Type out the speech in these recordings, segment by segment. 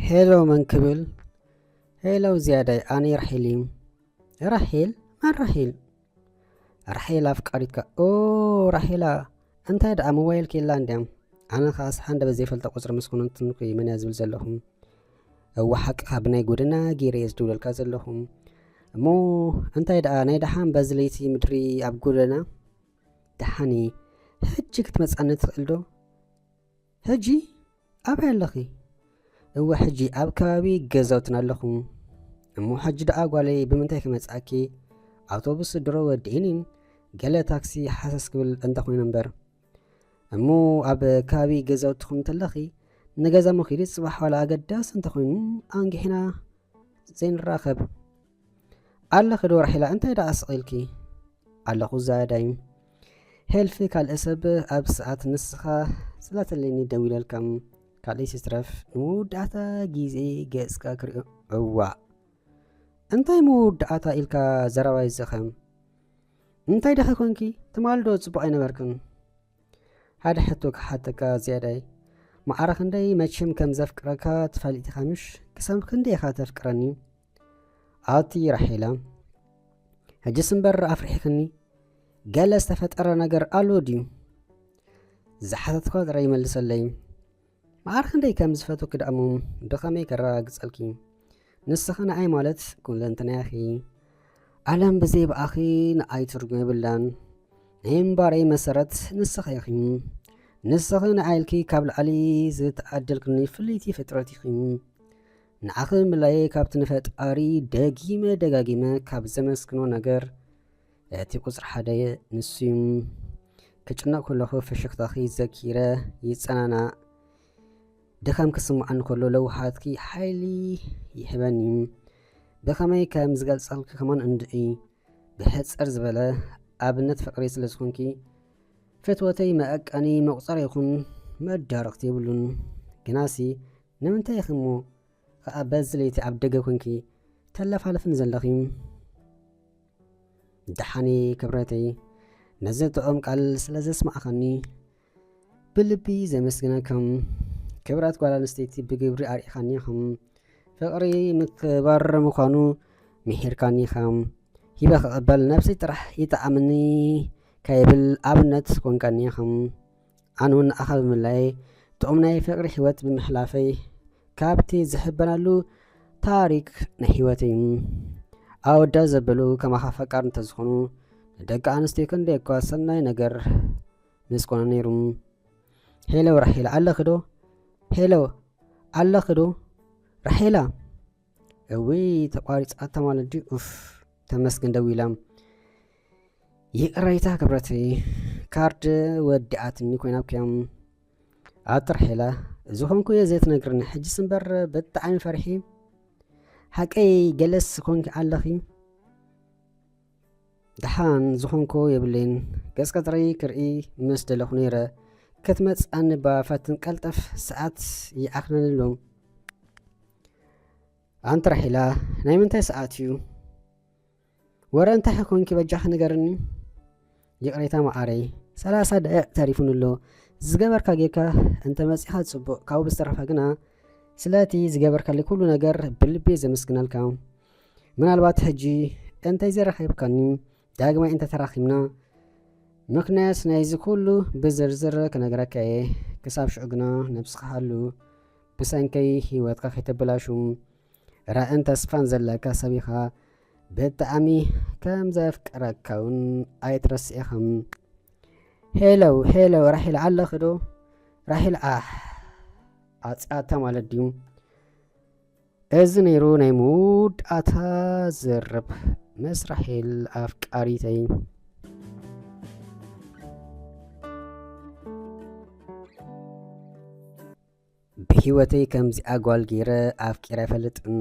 ሄሎ መን ክብል ሄሎ ዝያዳይ ኣነ ራሒል እዩ ራሒል መን ራሒል ራሒል ኣፍቃሪትካ ኦ ራሒላ እንታይ ደኣ ሞባይል ክኢላ እንድያ ኣነ ከዓ ስሓንደ በዘይፈልጦ ቁፅሪ ምስ ኩንንትንኩ እዩ መን እያ ዝብል ዘለኹም እዋ ሓቅኻ ብናይ ጎደና ገይረ እየ ዝድውለልካ ዘለኹም እሞ እንታይ ደኣ ናይ ደሓን በዚ ለይቲ ምድሪ ኣብ ጎደና ደሓኒ ሕጂ ክትመጽኣኒ ትኽእል ዶ? ሕጂ? ኣበይ ኣለኺ? እወ ሕጂ ኣብ ከባቢ ገዛውትና ኣለኹ። እሞ ሕጂ ደኣ ጓለይ ብምንታይ ክመጽኣኪ? ኣውቶቡስ ድሮ ወዲእኒን ገለ ታክሲ ሓሰስ ክብል እንተኾይኑ እምበር እሞ ኣብ ከባቢ ገዛውትኹም እንተለኺ ንገዛ መኺዲ ጽባሕ ዋላ ኣገዳሲ እንተኾይኑ ኣንጊሕና ዘይንራኸብ ኣለኺ ዶ ራሒላ እንታይ ደኣ ስቒልኪ ኣለኹ ዛያዳይ ሄልፊ ካልእ ሰብ ኣብ ሰዓት ንስኻ ስላተለኒ ደዊለልካ ካልእ ሲስትረፍ ንመወዳእታ ግዜ ገጽካ ክሪኦ እዋእ እንታይ መወዳእታ ኢልካ ዘረባ ይዘኸም እንታይ ደኺ ኮንኪ ትማልዶ ጽቡቕ ኣይነበርክን ሓደ ሕቶ ክሓተካ ዝያዳይ ማዕረ ክንደይ መቸም ከም ዘፍቅረካ ትፈልጥ ኢኻ ምሽ ክሳብ ክንደይ ኢኻ ተፍቅረኒ ኣቲ ራሒላ ሕጅስ እምበር ኣፍሪሕክኒ ገለ ዝተፈጠረ ነገር ኣሎ ድዩ ዝሓተትኳ ጥራይ ይመልሰለይ መዓር ክንደይ ከም ዝፈትወኪ ደኣሞ ብኸመይ ከረጋግጸልኪ ንስኺ ንኣይ ማለት ኩለንትናኺ ዓለም ብዘይ ብኣኺ ንኣይ ትርጉም የብላን ናይ እምባረይ መሰረት ንስኺ ኢኺ ንስኺ ንኣይልኪ ካብ ላዕሊ ዝተዓደልክኒ ፍልይቲ ፍጥረት ኢኺ ንዓኺ ምላየይ ካብቲ ንፈጣሪ ደጊመ ደጋጊመ ካብ ዘመስግኖ ነገር እቲ ቁጽሪ ሓደ ንሱዩ። ክጭነቕ ከለኹ ፍሽኽታኺ ዘኪረ ይጸናናእ። ድኻም ክስምዓኒ ከሎ ለውሃትኪ ሓይሊ ይህበኒ። ብኸመይ ከም ዝገልጸልኪ ከማን እንድዒ ብሕጽር ዝበለ ኣብነት ፍቅሪ ስለ ዝኾንኪ ፍትወተይ መዐቀኒ መቁጸሪ ይኹን መዳርቕቲ የብሉን ግናሲ ንምንታይ ኢኺ እሞ ኸኣ በዚ ለይቲ ኣብ ደገ ኰንኪ ተለፋልፍኒ ዘለኺ? ደሓን እየ ክብረተይ፣ ነዚ ጥዑም ቃል ስለ ዘስማዕኻኒ ብልቢ እየ ዘመስግነካ። ክብረት ጓል ኣንስተይቲ ብግብሪ ኣርኢኻኒ ኢኻ። ፍቕሪ ምክብባር ምዃኑ ምሒርካኒ ኢኻ። ሂበ ክቕበል ነብሰይ ጥራሕ ይጥዓመኒ ከይብል ኣብነት ኰንካኒ ኢኻ። ኣነ እውን ንኣኻ ብምላይ ጥዑም ናይ ፍቅሪ ህይወት ብምሕላፈይ ካብቲ ዝሕበናሉ ታሪክ ናይ ህይወት እዩ ኣወዳ ዘበሉ ከማኻ ፈቃር እንተዝኾኑ ንደቂ ኣንስትዮ ክንደይ እኳ ሰናይ ነገር ምስ ኮነ ነይሩ ሄለው ራሄላ ኣለኽዶ ሄለው ኣለኽዶ ራሄላ እውይ ተቋሪፃታ ማለት ድዩ ኡፍ ተመስገን ደዊላም ይቅረይታ ክብረተይ ካርድ ወዲኣትኒ ኮይና ክዮም ኣብ ጥራሕ ኢላ እዚ ኮንኩ እየ ዘይትነግርኒ ሕጅስ እምበር ብጣዕሚ ፈርሒ ሓቀይ ገለስ ኮንኪ ኣለኺ ደሓን ዝኾንኩ የብለይን ገጽ ቀጽሪ ክርኢ ምስ ደለኹ ነይረ ክትመጽኣኒ እባ ፈትን ቀልጠፍ ሰዓት ይዓኽነንሉ ኣንቲ ራሒላ ናይ ምንታይ ሰዓት እዩ ወረ እንታይ ኾንኪ በጃኺ ንገርኒ ይቕሬታ መዓረይ ሰላሳ ደቂቕ ተሪፉኒ ኣሎ ዝገበርካ ጌርካ እንተመጺኻ ጽቡቕ ካብኡ ብዝተረፈ ግና ስለቲ ዝገበርካለይ ኩሉ ነገር ብልቤ ዘመስግነልካ ምናልባት ሕጂ እንተይዘረኸብካኒ ዳግማይ እንተተራኺብና ምክንያት ናይዚ ኩሉ ብዝርዝር ክነግረካ እየ ክሳብ ሽዑ ግና ነብስኻ ሃሉ ብሰንከይ ሂወትካ ከይተበላሹ ራእን ተስፋን ዘለካ ሰብ ኢኻ ብጣዕሚ ከም ዘፍቅረካ እውን ኣይትረስኢኻ ሄለው ሄለው ራሒል ኣለኺ ዶ ራሒል ኣሕ ኣፅያታ ማለት ድዩ እዚ ነይሩ ናይ መወዳእታ ዝርብ ምስ ራሒል ኣፍቃሪተይ ብሂወተይ ከምዚኣ ጓል ጌረ ኣፍቂረ ኣይፈልጥን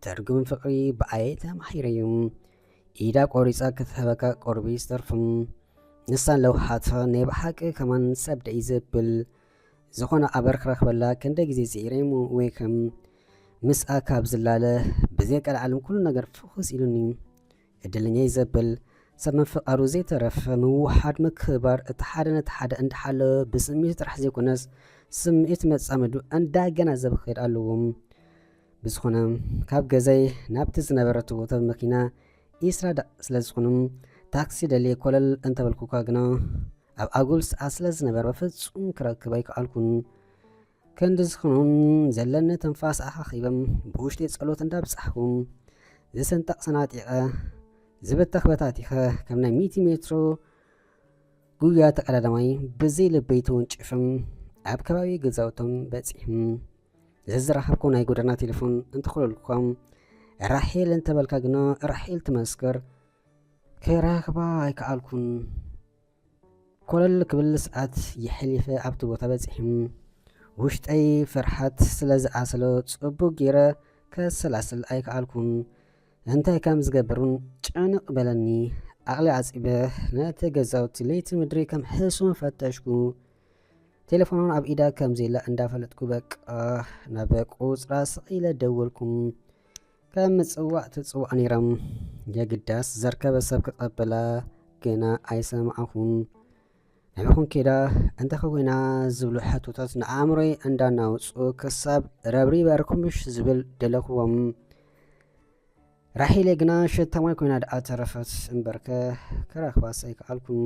ትርጉም ፍቅሪ ብኣየ ተማሂረ ዩ ኢዳ ቆሪጻ ክትህበካ ቁርቢ ዝተርፍም ንሳን ለውሃታ ናይ ብሓቂ ከማን ሰብ ደይ ዘብል ዝኾነ ኣበር ክረክበላ ክንደይ ግዜ ጽኢረይሙ ወይ ከም ምስኣ ካብ ዝላለ ብዘይ ቀልዓለም ኩሉ ነገር ፍኹስ ኢሉኒ ዕድልኛ'የ ዘብል ሰብ ምፍቃሩ ዘይተረፈ ምውህሃድ ምክብባር እቲ ሓደ ነቲ ሓደ እንዳሓለወ ብስምዒቱ ጥራሕ ዘይኮነስ ስምዒት መጻምዱ እንዳገናዘበ ክኸይድ ኣለዎ። ብዝኾነ ካብ ገዛይ ናብቲ ዝነበረቶ ቦታ ብመኪና ኢስራዳ ስለዝኾኑ ታክሲ ደልየ ኮለል እንተበልኩ'ኳ ግና ኣብ ኣጉል ሰዓት ስለዝነበረ በፍጹም ክረክብ ኣይከኣልኩን። ክንድዚ ክኑን ዘለኒ ትንፋስ ኣኻኺበ ብውሽጢ ጸሎት እንዳብጻሕኩ ዝስንጠቕ ሰናጢቐ ዝበተኽ በታቲኸ ከም ናይ ሚእቲ ሜትሮ ጉያ ተቀዳዳማይ ብዘይ ልበይ ተወንጪፍም ኣብ ከባቢ ገዛውቶም በጺሕም ዘዝረኸብኩ ናይ ጎደና ቴሌፎን እንትኸለልኩም ራሄል እንተበልካ ግና ራሄል ትመስክር ክረኽባ ኣይከኣልኩን። ኮለል ክብል ሰዓት የሕሊፈ ኣብቲ ቦታ በጺሑ። ውሽጠይ ፍርሓት ስለ ዝኣሰሎ ጽቡቕ ጌረ ከሰላስል ኣይከኣልኩን። እንታይ ከም ዝገብር ውን ጭንቕ በለኒ። ዓቕሊ ዓጺበ ነቲ ገዛውቲ ለይቲ ምድሪ ከም ሕሱም ፈተሽኩ። ቴሌፎን ውን ኣብ ኢዳ ከም ዘየላ እንዳፈለጥኩ በቃ ናብ ቁጽራ ስቕ ኢለ ደወልኩ። ከም ምጽዋዕ ትጽዋዕ ነይሮም የግዳስ ዘርከበ ሰብ ክቐበላ ግና ኣይሰማዕኹን ንዕኹም ኬዳ እንተኸዊና ዝብሉ ሕቶታት ንኣእምሮይ እንዳናውጹ ክሳብ ረብሪበ ርኩምሽ ዝብል ደለኹዎም ራሒለ ግና ሸታማይ ኮይና ደኣ ተረፈት እምበርከ ክረኽባስ ኣይከኣልኩን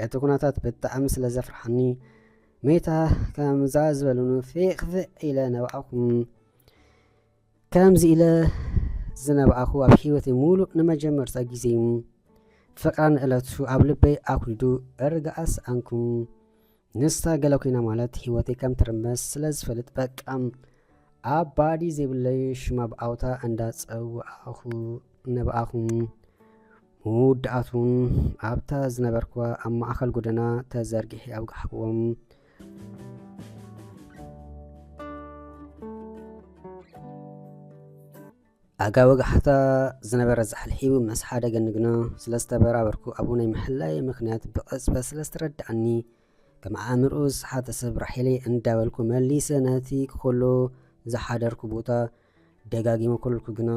እቲ ኩነታት ብጣዕሚ ስለ ዘፍርሓኒ መይታ ከምዛ ዝበሉን ፌቕፍዕ ኢለ ነባዕኹም ከምዚ ኢለ ዝነባኣኹ ኣብ ሂወተይ ሙሉእ ንመጀመርታ ግዜ ፍቅራ ንእለቱ ኣብ ልበይ ኣኩሊዱ እርጋኣ ሰኣንኩ ንሳ ገለ ኮይና ማለት ሂወተይ ከም ትርመስ ስለ ዝፈልጥ በቃ ኣባዲ ዘይብለይ ሽማ ብኣውታ እንዳ ጸዋኣኹ ነባኣኹ መወዳእቱን ኣብታ ዝነበርኩዋ ኣብ ማእከል ጎደና ተዘርጊሒ ኣብጋሕክዎም ኣጋ ወጋሕታ ዝነበረ ዛሕልሒቡ ምስ ሓደ ገንግኖ ስለ ዝተበራበርኩ ኣብኡ ናይ ምሕላየ ምክንያት ብቐጽበት ስለ ዝተረድኣኒ ከም ኣእምርኡ ዝሰሓተ ሰብ ራሒለይ እንዳበልኩ መሊሰ ነቲ ክኸሎ ዝሓደርኩ ቦታ ደጋጊመ ኮለልኩ ግና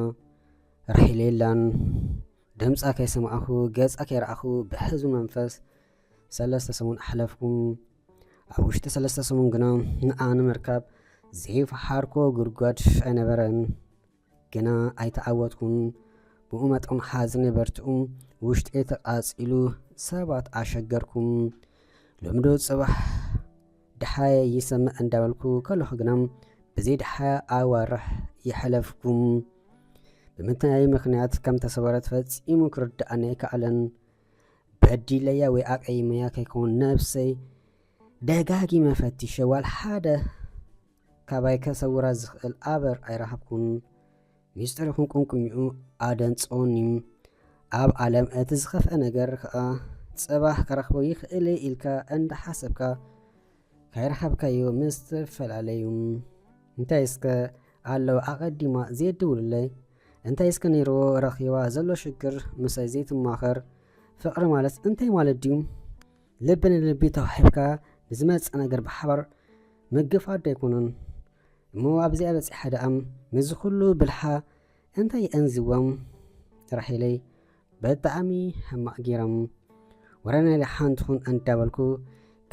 ራሒለ የላን ድምፃ ከይሰማዕኹ ገፃ ከይረኣኹ ብሕዝቢ መንፈስ ሰለስተ ሰሙን ኣሕለፍኩ። ኣብ ውሽጢ ሰለስተ ሰሙን ግና ንዓ ንምርካብ ዘይፈሓርኮ ጉድጓድ ኣይነበረን። ግና ኣይተዓወትኩን። ብኡ መጠን ሓዝነ በርትኡ ውሽጢ ተቓጺሉ ሰባት ኣሸገርኩም። ሎምዶ ጽባሕ ድሓየ ይሰምዕ እንዳበልኩ ከለኹ ግና ብዘይ ድሓያ ኣዋርሕ የሕለፍኩም። ብምንታይ ምክንያት ከም ተሰወረት ፈጺሙ ክርድኣኒ ኣይከኣለን። በዲለያ ወይ ኣቀይመያ ከይከውን ነብሰይ ደጋጊመ ፈቲሸ ዋላ ሓደ ካባይ ከሰውራ ዝኽእል ኣበር ኣይረሃብኩን ሚስጥር ይኹን ቁንቁኝኡ ኣደንጸወኒ ኣብ ዓለም እቲ ዝኸፍአ ነገር ከዓ ጽባሕ ከረኽቦ ይኽእል ኢልካ እንዳሓሰብካ ካይረኸብካዮ ምስ ትፈላለዩ እንታይ እስከ ኣለዉ ኣቐዲማ ዜድውሉለይ እንታይ እስከ ነይርዎ ረኺባ ዘሎ ሽግር ምሳይ ዘይትማኸር ፍቅሪ ማለት እንታይ ማለት ድዩ ልቢ ንልቢ ተዋሒብካ ንዝመፅእ ነገር ብሓባር ምግፋት ዶ ኣይኮኑን እሞ ኣብዚኣ በፂሓ ደኣም ምስዚ ኩሉ ብልሓ እንታይ የእንዝዎም ራሒለይ ብጣዕሚ ሕማቅ ጌሮም ወረ ናይ ደሓን ትኹን እንዳበልኩ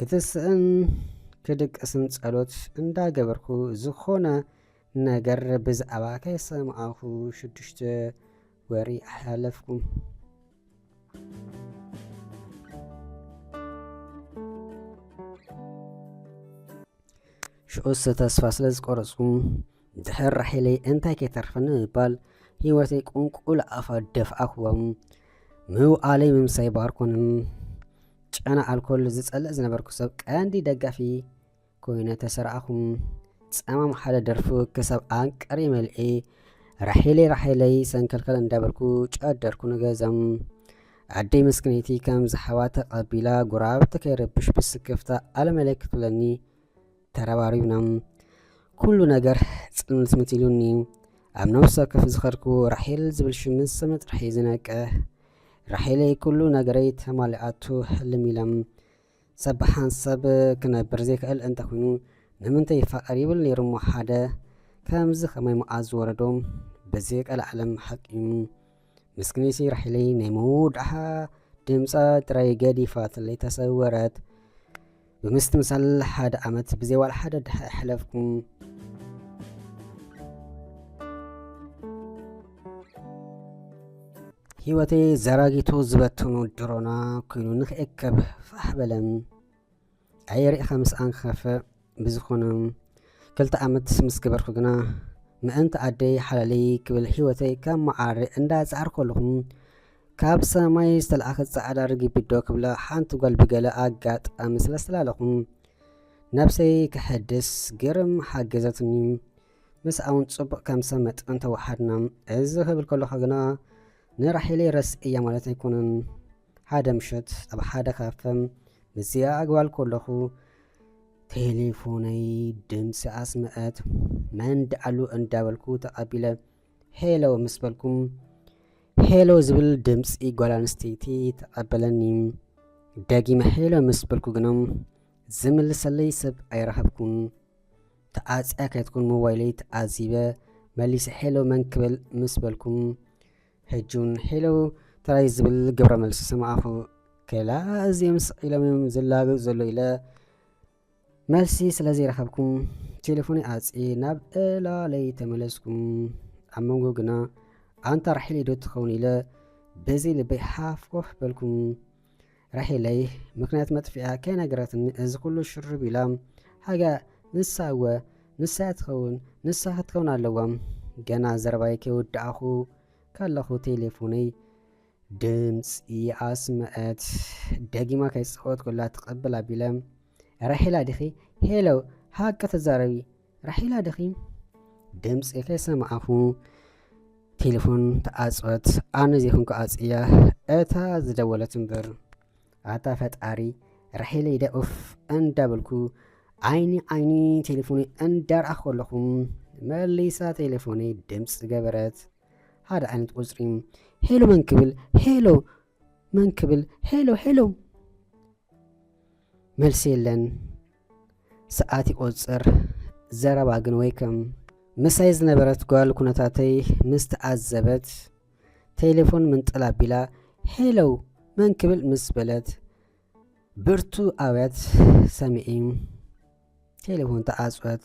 ክትስእን ክድቅስን ጸሎት እንዳገበርኩ ዝኾነ ነገር ብዛዕባ ከይሰማዕኹ ሽዱሽተ ወሪ ኣሕላለፍኩ። ሽዑስ ተስፋ ስለ ዝቆረጽኩ ድሕር ራሒለይ እንታይ ከይተርፈኒ ምባል ህይወተይ ቁንቁል ኣፋ ደፍኣክዎም ምውዓለይ ምምሳይ ባርኮንን ጨና ኣልኮል ዝጸልእ ዝነበርኩ ሰብ ቀንዲ ደጋፊ ኮይነ ተሰራኣኹም ጸማም ሓደ ደርፉ ክሳብ ኣንቀሪ መልዒ ራሒለይ ራሒለይ ሰንከልከል እንዳበልኩ ጨደርኩ ንገዘም ኣደይ መስክነይቲ ከም ዝሓዋ ተቐቢላ ጉራብቲ ከይረብሽ ብስክፍታ ኣለመለይ ክትብለኒ ተረባሪብና ኩሉ ነገር ጽንትምት ኢሉኒ ኣብ ነብሲ ወከፍ ዝኸርኩ ራሒል ዝብል ሽም ስም ጥራሕ እዩ ዝነቅሕ ራሒለይ ኩሉ ነገረይ ተማሊኣቱ ሕልም ኢለም ሰብ ብሓንሰብ ክነብር ዘይክእል እንተ ኩይኑ ንምንተ ይፋቀር ይብል ነይሩ እሞ ሓደ ከምዚ ከማይ መኣዝ ዝወረዶ በዚ ቀላዓለም ሓቂ እዩ ምስክነይሲ ራሒለይ ናይ መወዳሓ ድምጻ ጥራይ ገዲፋትለይ ተሰወረት ብምስትምሳል ሓደ ዓመት ብዘይ ዋላ ሓደ ድሓ ኣይሓለፍኩም ህይወተይ ዘራጊቱ ዝበትኑ ድሮና ኮይኑ ንክእከብ ፋሕ በለን ኣየርእኻ ምስኣን ክኸፍእ ብዝኾነ ክልተ ዓመት ምስ ገበርኩ ግና ምእንቲ ኣደይ ሓላለይ ክብል ህይወተይ ካብ መዓሪ እንዳፃዕር ከለኹም ካብ ሰማይ ዝተለኣኸ ፃዕዳ ርግቢዶ ክብላ ሓንቲ ጓል ብገለ ኣጋጣሚ ስለስተላለኹም ነብሰይ ክሕድስ ግርም ሓገዘትኒ ምስኣውን ጽቡቕ ከም ሰብ መጠን ተዋሓድና። እዚ ክብል ከለኹ ግና ንራሒለይ ረስኤያ ማለት ኣይኮነን። ሓደ ምሸት ኣብ ሓደ ካፈ ምስዚኣ ኣግባል ከለኹ ቴሌፎነይ ድምፂ ኣስምዐት። መን ደኣሉ እንዳበልኩ ተቐቢለ ሄሎ ምስ በልኩ ሄሎ ዝብል ድምፂ ጓል ኣንስተይቲ ተቐበለኒ። ደጊመ ሄሎ ምስ በልኩ ግና ዝምልሰለይ ሰብ ኣይረኸብኩን። ተዓጽያ ከይትኩን ሞባይለይ ተዓዚበ መሊሰ ሄሎ መን ክብል ምስ በልኩም ሕጁን ሄሎ ተራይ ዝብል ግብረ መልሲ ሰማዕኹ ከላ እዚኦም ስቕ ኢሎም እዮም ዝላገጹ ዘሎ ኢለ መልሲ ስለ ዘይረኸብኩም ቴሌፎነይ ኣጽየ ናብ ዕላለይ ተመለስኩም ኣብ መንጎ ግና ኣንታ ራሒለይ ዶ ትኸውን ኢለ በዘይ ልበይ ሓፍ ኮፍ በልኩም ራሄለይ ምክንያት መጥፊኣ ከይነገረትኒ እዚ ኩሉ ሽር ቢላ ሃገ ንሳ እወ ንሳ እያ ትኸውን ንሳ ክትከውን ኣለዋ ገና ዘረባይ ከይወዳእኹ ከለኹ ቴሌፎነይ ድምፂ ኣስመዐት ደጊማ ከይፀወትኩላ ትቕብል ኣቢለ ራሄላ ዲኺ ሄሎ ሃቂ ተዛረቢ ራሒላ ድኺ ድምፂ ከይሰማዕኹ ቴሌፎን ተዓፀወት ኣነ ዘይኹንኩ ኣፅያ እታ ዝደወለት እምበር ኣታ ፈጣሪ ራሒለይ ደ ኡፍ እንዳበልኩ ዓይኒ ዓይኒ ቴሌፎኒ እንዳርኣኹ ከለኹ መሊሳ ቴሌፎኒ ድምፂ ገበረት ሓደ ዓይነት ቁፅሪ ሄሎ መን ክብል ሄሎ መን ክብል ሄሎ ሄሎ መልሲ የለን ሰዓት ይቆፅር ዘረባ ግን ወይ ከም ምሳይ ዝነበረት ጓል ኩነታተይ ምስ ተዓዘበት ቴሌፎን ምንጥል ኣቢላ ሄሎ መን ክብል ምስ በለት ብርቱ ኣውያት ሰሚዒ ቴሌፎን ተዓፅወት